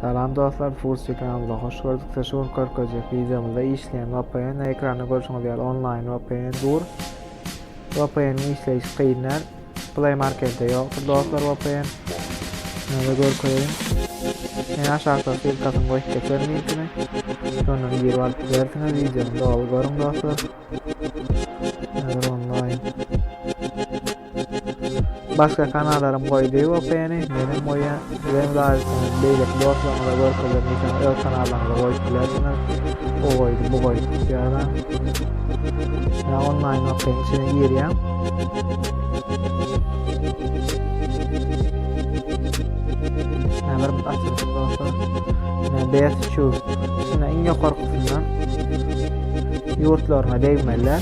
Salam dostlar Fursi kanalyna hoş gördük sizi şu gün körkezjek wideomyzda işleýän VPN ekranda görşüňiz ýaly onlaýn VPN dur VPN işleýişi kyn däl Play marketde ýokdur dostlar VPN Şöyle görkezeýin Men aşakda silkasyny goýup geçer linkini Şondan girip alyp bilersiňiz wideony doly görüň dostlar Şöyle onlaýn Başga kanalarym goýdy OPN-i, menem goýýan. Sizem laýyksyňyz, beýleki dostlaryňyza görkezer diýseň öz kanallaryňyza goýup bilersiňiz. O goýdy, bu goýdy diýýärler. Şuna onlaýn OPN içine girýän. Näme bir açylyp bolsa, näme best şu. Şuna iň ýokarkysyndan ýurtlaryna degmeliler.